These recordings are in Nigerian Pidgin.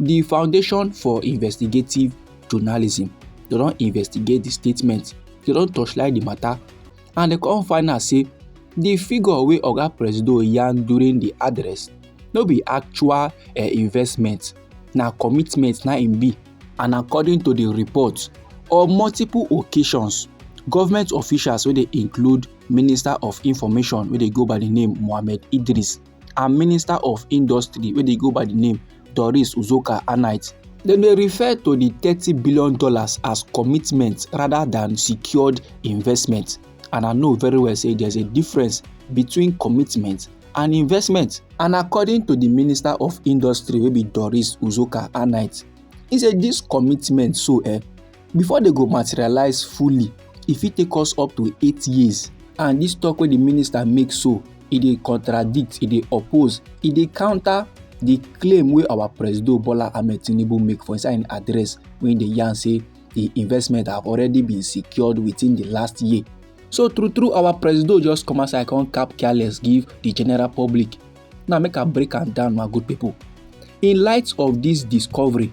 di foundation for investigative journalism dem don investigate di statement dem don torchlight di matter and dem come find out say di figure wey oga presido yarn during di address no be actual uh, investment na commitment na im be and according to di report on multiple occasions government officials wey dey include minister of information wey dey go by di name mohammed idris and minister of industry wey dey go by di name doris uzoka annite dem dey refer to di thirty billion dollars as commitment rather than secured investment and i know very well say there's a difference between commitment and investment and according to di minister of industry wey be doris uzoka annite e say dis commitment so eh before dem go materialize fully e fit take us up to eight years and this talk wey the minister make so e dey contradict e dey oppose e dey counter the claim wey our president bola ahmed tinubu make for inside im address wey dey yarn say the investment have already been secured within the last year so true true our president just come outside come cap careless give the general public now make i break am down my good people in light of this discovery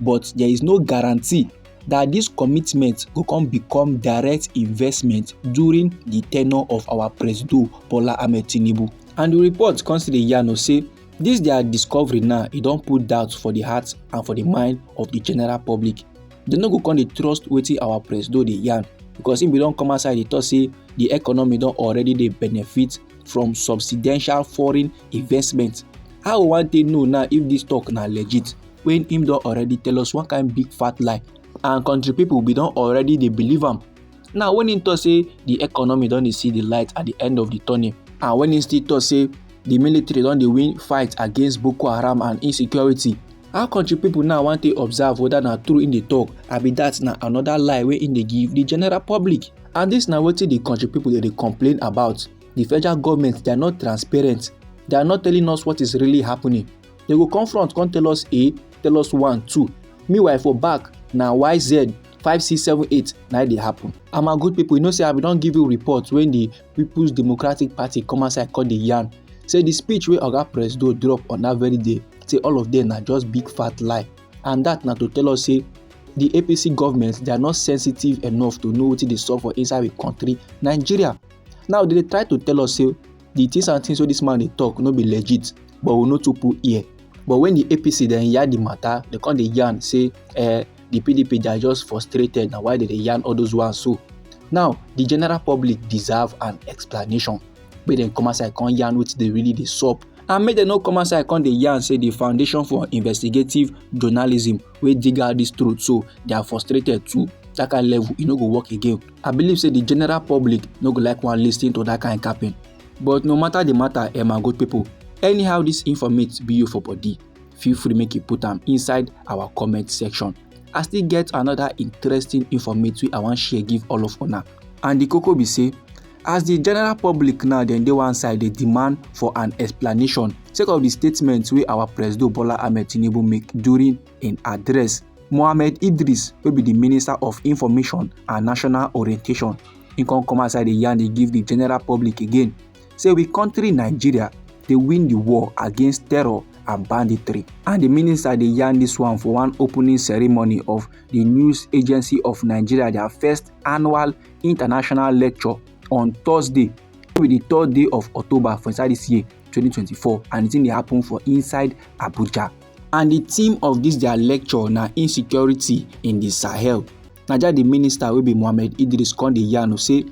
but there is no guarantee that this commitment go come become direct investment during the tenure of our presido bola ahmed tinubu and the report come still dey yarn us say this their discovery now e don put doubt for the heart and for the mind of the general public dem no go come dey trust wetin our presido dey yarn because him bin don come outside dey talk say the economy don already dey benefit from substantial foreign investment how we wan take know now if this talk na legit when him don already tell us one kind big fat lie and country people we don already dey believe am now when him talk say the economy don dey see the light at the end of the tunnel and when him still talk say the military don dey win fight against boko haram and insecurity how country people now wan take observe whether na true him dey talk abi that na another lie wey him dey give the general public and this na wetin the country people dey dey complain about the federal government they are not transparent they are not telling us what is really happening dem go come front come tell us a tell us one two meanwhile for back na yz five six seven eight na e dey happen. and my good people you know say i bin don give you report when the people's democratic party come outside come dey yarn say the speech wey oga presido drop on that very day say all of them na just big fat lie and that na to tell us say the apc government they are not sensitive enough to know wetin dey sup for inside the country nigeria now they dey try to tell us say the things and things wey this man dey talk no be legit but we no too put ear but when the apc dem yarn the matter dem come dey yarn say eh, the pdp they are just frustrated na why they dey yarn all those ones so now the general public deserve an explanation make dem come outside come yarn wetin dey really dey sup and make dem no come outside come dey yarn say the foundation for investigative journalism wey dig out this truth so they are frustrated too that kind level e no go work again i believe say the general public no go like wan lis ten to that kind capping but no matter the matter eh my good people anyhow this informate be you for body feel free make you put am inside our comment section i still get another interesting informate wey i wan share give all of una and the koko be say as di general public now dem dey one side dey demand for an explanation sake of di statement wey our presido bola ahmed tinubu make during im address mohammed idris wey be di minister of information and national orientation im come come outside dey yarn dey give di general public again say we kontri nigeria dey win di war against terror and banditry and di minister dey yarn dis one for one opening ceremony of di news agency of nigeria dia first annual international lecture on thursday wey be di third day of october for inside dis year 2024 and di thing dey happen for inside abuja and di theme of dis dia lecture na insecurity in di sahel naija di minister wey be mohammed idris come dey yarn say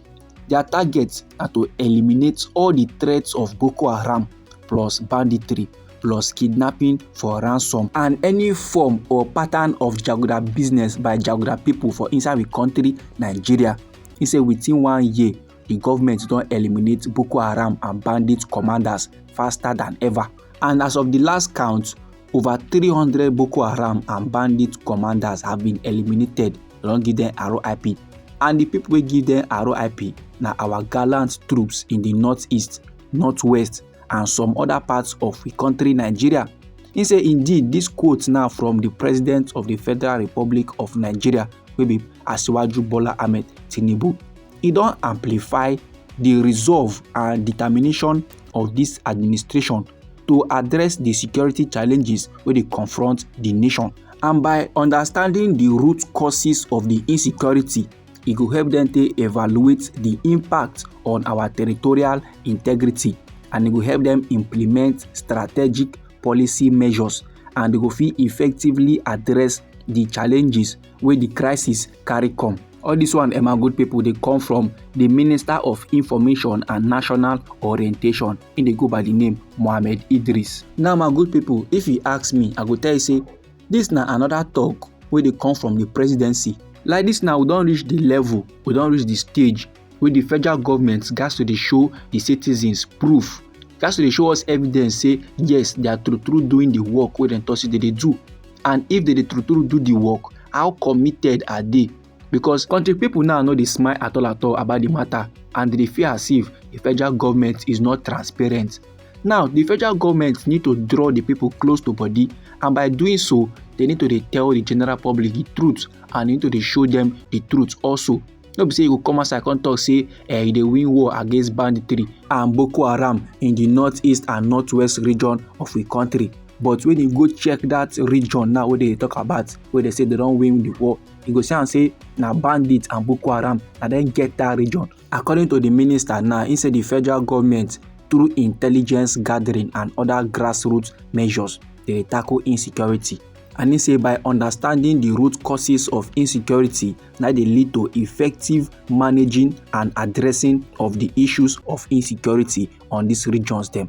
dia target na to eliminate all di threats of boko haram plus banditry plus kidnapping for ransom and any form or pattern of jaguda business by jaguda pipo for inside di kontri nigeria e say within one year di goment don eliminate boko haram and bandit commanders faster than ever and as of di last count over 300 boko haram and bandit commanders have been eliminated dem don give dem rip and di pipo wey give dem rip na our gallant troops in di north east north west and some other parts of the country Nigeria. He say indeed this quote now from the president of the Federal Republic of Nigeria wey be Asiwaju Bola Ahmed Tinubu. He don amplify the resolve and determination of this administration to address the security challenges wey dey confront the nation and by understanding the root causes of the insecurity e go help dem take evaluate the impact on our territorial integrity and e go help dem implement strategic policy measures and e go fit effectively address the challenges wey the crisis carry come. All this one Emma good people dey come from the Minister of Information and National Orientation in dey go by the name Mohammed Idris. Now my good people if you ask me I go tell you say This na another talk wey dey come from the presidency. Like this now, we don reach the level, we don reach the stage wey the federal government gats to dey show the citizens proof, gats to dey show us evidence say yes, they are true true doing the work wey dem talk say they dey do. And if they dey true true do the work, how committed are they? because country people now no dey smile at all at all about the matter and they feel as if the federal government is not transparent. Now, the federal government need to draw the people close to body and by doing so, they need to dey tell the general public the truth and need to dey show them the truth also. No be say you go come outside come talk say uh, you dey win war against banditry and Boko Haram in the northeast and northwest region of the country. But when you go check that region now wey they talk about, where they say they don't win the war, you go see am say na bandits and boko haram na dem get dat region according to di minister now im say di federal goment through intelligence gathering and oda grassroots measures dey tackle insecurity and im say by understanding di root causes of insecurity na dey lead to effective managing and addressing of di issues of insecurity on dis regions dem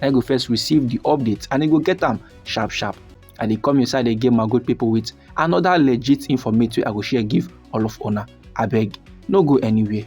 na you go first receive the update and you go get am sharp sharp i dey come inside again my good people with another legit informate wey i go share give all of una abeg no go anywhere